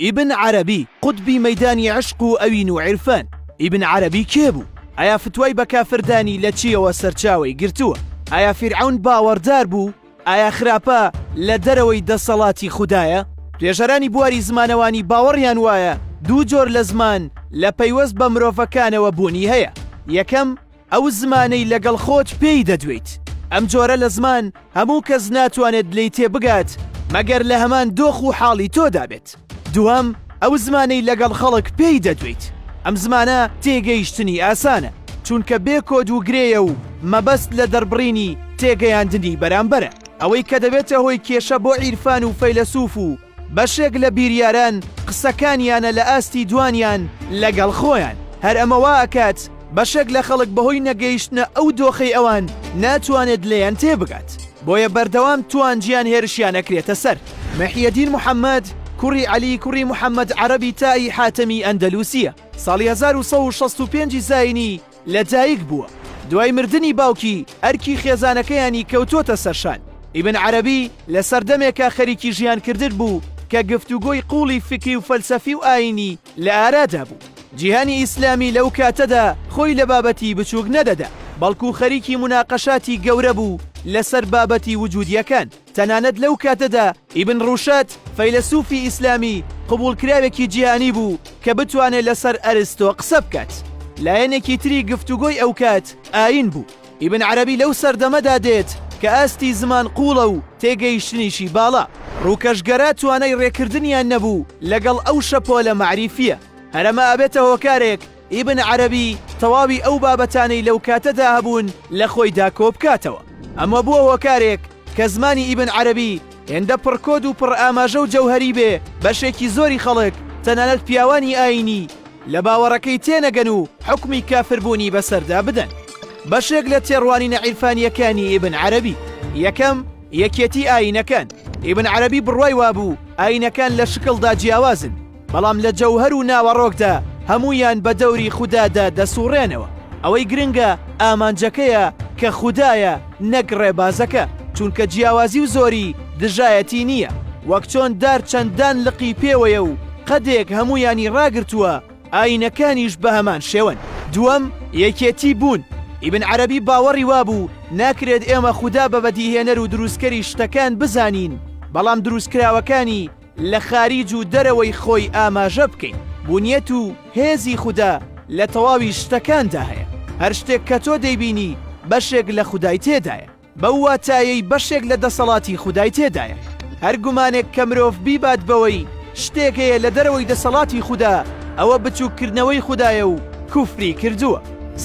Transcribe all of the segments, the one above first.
ئیبن عەرەبی قوتبی مەیدانی عەشق و ئەوین و عیرفان ئیبن عەرەبی کێ بوو؟ ئایا فتوای بە کافر دانی لە چیەوە سەرچاوەی گرتووە؟ ئایا فیرعەون باوەڕدار بوو ئایا خراپە لە دەرەوەی دەسەڵاتی خودایە؟ توێژەرانی بواری زمانەوانی باوەڕیان وایە دوو جۆر لە زمان لە پەیوەست بە مرۆڤەکانەوە بوونی هەیە، یەکەم، ئەو زمانەی لەگەڵ خۆت پێی دەدوێیت. ئەم جۆرە لە زمان هەموو کەس ناتوانێت لێی تێبگات مەگەر لە هەمان دۆخ و حاڵی تۆدا بێت. دووەم، ئەو زمانەی لەگەڵ خەڵک پێی دەدوێیت. ئەم زمانە تێگەیشتنی ئاسانە، چونکە بێ کۆد و گرێیە و مەبەست لە دەربڕینی تێگەیاندنی بەرامبەرە. ئەوەی کە دەبێتە هۆی کێشە بۆ عیرفان و فەیلەسوف و بەشێک لە بیریاران قسەکانیانە لە ئاستی دوانیان لەگەڵ خۆیان، هەر ئەمە وا ئەکات بەشێک لە خەڵک بەهۆی نەگەیشتنە ئەو دۆخەی ئەوان ناتوانێت لێیان تێبگات، بۆیە بەردەوام توانجیان هێرشیان ئەکرێتە سەر. محیەدین محەمەد کوڕی عەلی کوڕی محەمەد عەرەبی تائی حاتەمی ئەندەلوسییە، ساڵی هەزار و سەد و شەست و پێنج زایینی لەدایک بووە، دوای مردنی باوکی ئەرکی خێزانەکەیانی کەوتووەتە سەرشان، ئیبن عەرەبی لە سەردەمێکە خەریکی ژیانکردن بوو کە گفتوگۆی قووڵی فیکری و فەلسەفی و ئایینی لە ئارادا بوو، جیهانی ئیسلامی لەو کاتەدا خۆی لە بابەتی بچووک نەدەدا، بەڵکو خەریکی موناقەشاتی گەورە بوو لەسەر بابەتی وجودییەکان. تەنانەت لەو کاتەدا ئیبن ڕوشەد، فەیلەسوفی ئیسلامی قبوڵکراوێکی جیهانی بوو کە بتوانێت لەسەر ئەرستۆ قسە بکات. لایەنێکی تری گفتوگۆی ئەو کات ئایین بوو. ئیبن عەرەبی لەو سەردەمەدا دێت کە ئاستی زمان قووڵە و تێگەیشتنیشی باڵا. ڕووکەشگەرا توانای ڕێکردنیان نەبوو لەگەڵ ئەو شەپۆلە مەعریفییە. هەرەمە ئەبێتە هۆکارێک ئیبن عەرەبی تەواوی ئەو بابەتانەی لەو کاتەدا هەبوون لە خۆیدا کۆ بکاتەوە. ئەمە بووە هۆکارێک کە زمانی ئیبن عەرەبی هێندە پڕکۆد و پڕئاماژە و جەوهەری بێ بەشێکی زۆری خەڵک تەنانەت پیاوانی ئایینی لە باوەڕەکەی تێنەگەن و حوکمی کافربوونی بەسەردا بدەن. بەشێک لە تێڕوانینە عیرفانییەکانی ئیبن عەرەبی. یەکەم، یەکێتی ئایینەکان. ئیبن عەرەبی بڕوای وابوو ئایینەکان لە شکڵدا جیاوازن، بەڵام لە جەوهەر و ناوەڕۆکدا هەموویان بە دەوری خودادا دەسوڕێنەوە ئەوەی گرنگە ئامانجەکەیە کە خودایە نەک ڕێبازەکە چونکە جیاوازی و زۆری دژایەتی نییە وەک چۆن دار چەندان لقی پێوەیە و قەدێک هەموویانی ڕاگرتووە ئاینەکانیش بە هەمان شێوەن دووەم یەکێتی بوون ئیبن عەرەبی باوەڕی وابوو ناکرێت ئێمە خودا بە بەدیهێنەر و دروستکەری شتەکان بزانین بەڵام دروستکراوەکانی لە خاریج و دەرەوەی خۆی ئاماژە بکەین، بونیەت و هێزی خودا لە تەواوی شتەکاندا هەیە، هەر شتێک کە تۆ دەیبینی بەشێک لە خودای تێدایە، بەو واتایەی بەشێک لە دەسەڵاتی خودای تێدایە، هەر گومانێک کە مرۆڤ بیبات بەوەی شتێک هەیە لە دەرەوەی دەسەڵاتی خودا ئەوە بچوک کردنەوەی خودایە و کوفری کردووە.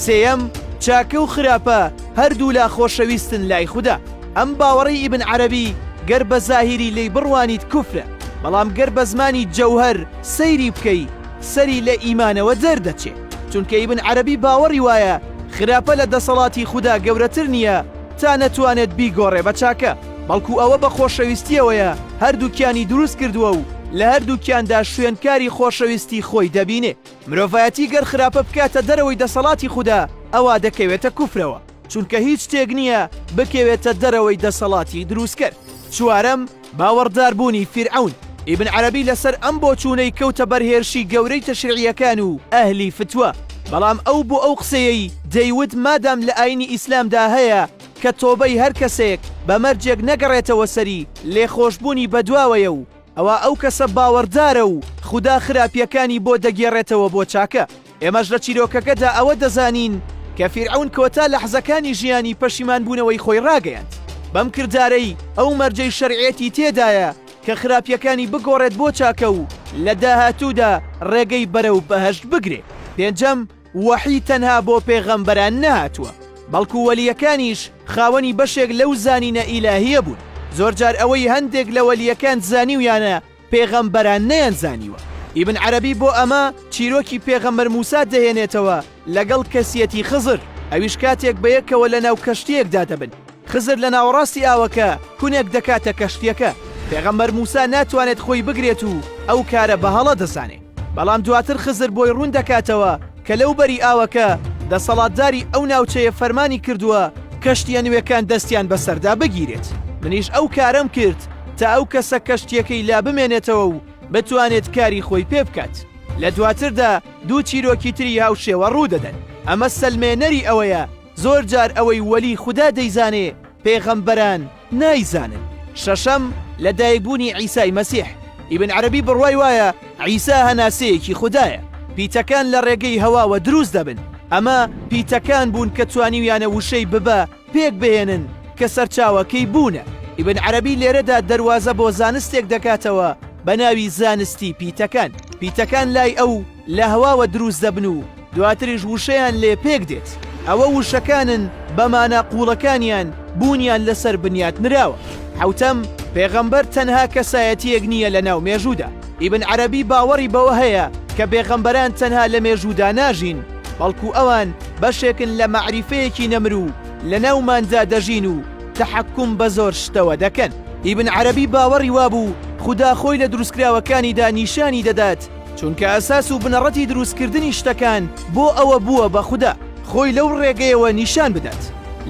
سێیەم، چاکە و خراپە هەردوولا خۆشەویستن لای خودا. ئەم باوەڕەی ئیبن عەرەبی گەر بە زاهیری لێی بڕوانیت کوفرە، بەڵام گەر بە زمانی جەوهەر سەیری بکەی سەری لە ئیمانەوە دەردەچێ، چونکە ئیبن عەرەبی باوەڕی وایە خراپە لە دەسەڵاتی خودا گەورەتر نییە تا نەتوانێت بیگۆڕێ بە چاکە، بەڵکو ئەوە بە خۆشەویستییەوەیە هەردووکیانی دروست کردووە و لە هەردووکیاندا شوێنکاری خۆشەویستی خۆی دەبینێ. مرۆڤایەتی گەر خراپە بکاتە دەرەوەی دەسەڵاتی خودا ئەوا دەکەوێتە کوفرەوە. چونکە هیچ شتێک نییە بکەوێتە دەرەوەی دەسەڵاتی دروستکەر. چوارەم، باوەڕداربوونی فیرعەون. ئیبن عەرەبی لەسەر ئەم بۆچوونەی کەوتە بەر هێرشی گەورەی تەشریعییەکان و ئەهلی فتوا، بەڵام ئەو بۆ ئەو قسەیەی دەیوت مادام لە ئایینی ئیسلامدا هەیە کە تۆبەی هەر کەسێک بە مەرجێک نەگەڕێتەوە سەری لێخۆشبوونی بەدواوەیە و ئەوا ئەو کەسە باوەڕدارە و خودا خراپییەکانی بۆ دەگێڕێتەوە بۆ چاکە. ئێمەش لە چیرۆکەکەدا ئەوە دەزانین کە فیرعەون کۆتا لەحزەکانی ژیانی پەشیمان بوونەوەی خۆی ڕاگەیاند بەم کردارەی ئەو مەرجەی شەرعێتی تێدایە کە خراپیەکانی بگۆڕێت بۆ چاکە و لە داهاتوودا ڕێگەی بەرەو بەهەشت بگرێ پێنجەم وەحی تەنها بۆ پێغەمبەران نەهاتووە بەڵکو وەلیەکانیش خاوەنی بەشێک لەو زانینە ئیلاهیە بوون زۆرجار ئەوەی هەندێک لە وەلیەکان زانیویانە پێغەمبەران نەیانزانیوە. ئیبن عەرەبی بۆ ئەمە چیرۆکی پێغەمبەر موسا دەهێنێتەوە لەگەڵ کەسیەتی خزر، ئەویش کاتێک بەیەکەوە لەناو کەشتییەکدا دەبن، خزر لە ناوەڕاستی ئاوەکە کونێک دەکاتە کەشتییەکە، پێغەمبەر موسا ناتوانێت خۆی بگرێت و ئەو کارە بە هەڵە دەزانێ. بەڵام دواتر خزر بۆی ڕوون دەکاتەوە کە لەو بەری ئاوەکە دەسەڵاتداری ئەو ناوچەیە فەرمانی کردووە کەشتیە نوێکان دەستیان بەسەردا بگیرێت منیش ئەو کارەم کرد تا ئەو کەسە کەشتیەکەی لا بمێنێتەوە و بتوانێت کاری خۆی پێ بکات لە دواتردا دوو چیرۆکی تری هاوشێوە ڕوودەدەن ئەمە سەلمێنەری ئەوەیە زۆر جار ئەوەی وەلی خوددا دەیزانێ پێغەمبەران نایزانن. شەشەم، لە دایک بوونی عیسای مەسیح، ئیبن عەرەبی بڕوای وایە عیسا هەناسەیەکی خودایە، پیتەکان لە ڕێگەی هەواوە دروست دەبن، ئەمە پیتەکان بوون کە توانیویانە وشەی ببە پێک بهێنن کە سەرچاوەکەی بوونە، ئیبن عەرەبی لێرەدا دەروازە بۆ زانستێک دەکاتەوە بە ناوی زانستی پیتەکان، پیتەکان لای ئەو، لە هەواوە دروست دەبن و دواتریش وشەیان لێ پێک دێت، ئەوە وشەکانن بە مانا قووڵەکانیان بوونیان لەسەر بنیات نراوە. حەوتەم، پێغەمبەر تەنها کەسایەتییەک نییە لەناو مێژوودا، ئیبن عەرەبی باوەڕی بەوە هەیە کە بێغەمبەران تەنها لە مێژوودا ناژین، بەڵکو ئەوان بەشێکن لە مەعریفەیەکی نەمر و لەناوماندا دەژین و تەحەکوم بە زۆر شتەوە دەکەن. ئیبن عەرەبی باوەڕی وابوو خودا خۆی لە دروستکراوەکانیدا نیشانی دەدات، چونکە ئەساس و بنەڕەتی دروستکردنی شتەکان بۆ ئەوە بووە بە خودا خۆی لەو ڕێگەیەوە نیشان بدات.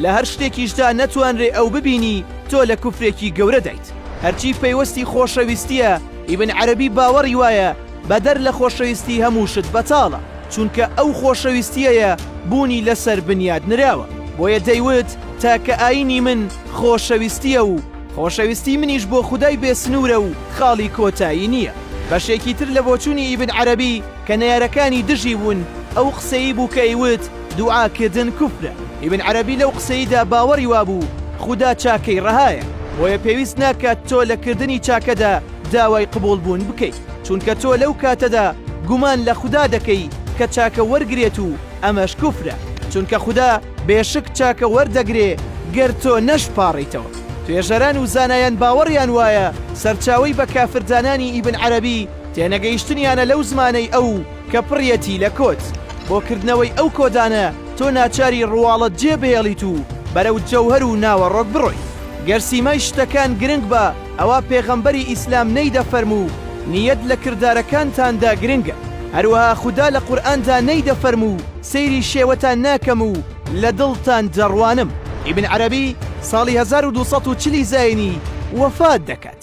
لە هەر شتێکیشدا نەتوانرێ ئەو ببینی تۆ لە کوفرێکی گەورە دایت. هەرچی پەیوەستی خۆشەویستییە، ئیبن عەرەبی باوەڕی وایە بەدەر لە خۆشەویستی هەموو شت بەتاڵە، چونکە ئەو خۆشەویستییەیە بوونی لەسەر بنیات نراوە. بۆیە دەیوت تاکە ئایینی من خۆشەویستییە و، خۆشەویستی منیش بۆ خودای بێ سنوورە و خاڵی کۆتایی نییە. بەشێکی تر لە بۆچوونی ئیبن عەرەبی کە نەیارەکانی دژی بوون، ئەو قسەی بوو کە ئەیوت دوعاکردن کوفرە. ئیبن عەرەبی لەو قسەیدا باوەڕی وابوو خودا چاکەی ڕەهایە، بۆیە پێویست ناکات تۆ لە کردنی چاکەدا داوای قبوڵبوون بکەیت، چونکە تۆ لەو کاتەدا گومان لە خودا دەکەی کە چاکە وەرگرێت و ئەمەش کوفرە چونکە خودا بێشک چاکە وەردەگرێ گەر تۆ نەشپاڕیتەوە. توێژەران و زانایان باوەڕیان وایە سەرچاوەی بە کافر دانانی ئیبن عەرەبی تێنەگەیشتنیانە لەو زمانەی ئەو کە پڕیەتی لە کۆت. بۆ کردنەوەی ئەو کۆدانە تۆ ناچاری ڕواڵەت جێ بهێڵیت و بەرەو جەوهەر و ناوەڕۆک بڕۆیت. گەر سیمای شتەکان گرنگ بە، ئەوا پێغەمبەری ئیسلام نەیدەفەرموو نیەت لە کردارەکانتاندا گرنگە، هەروەها خودا لە قورئاندا نەیدەفەرموو سەیری شێوەتان ناکەم و لە دڵتان دەڕوانم. ئیبن عەرەبی ساڵی هەزار و دوو سەد و چل ی زاینی وەفات دەکات.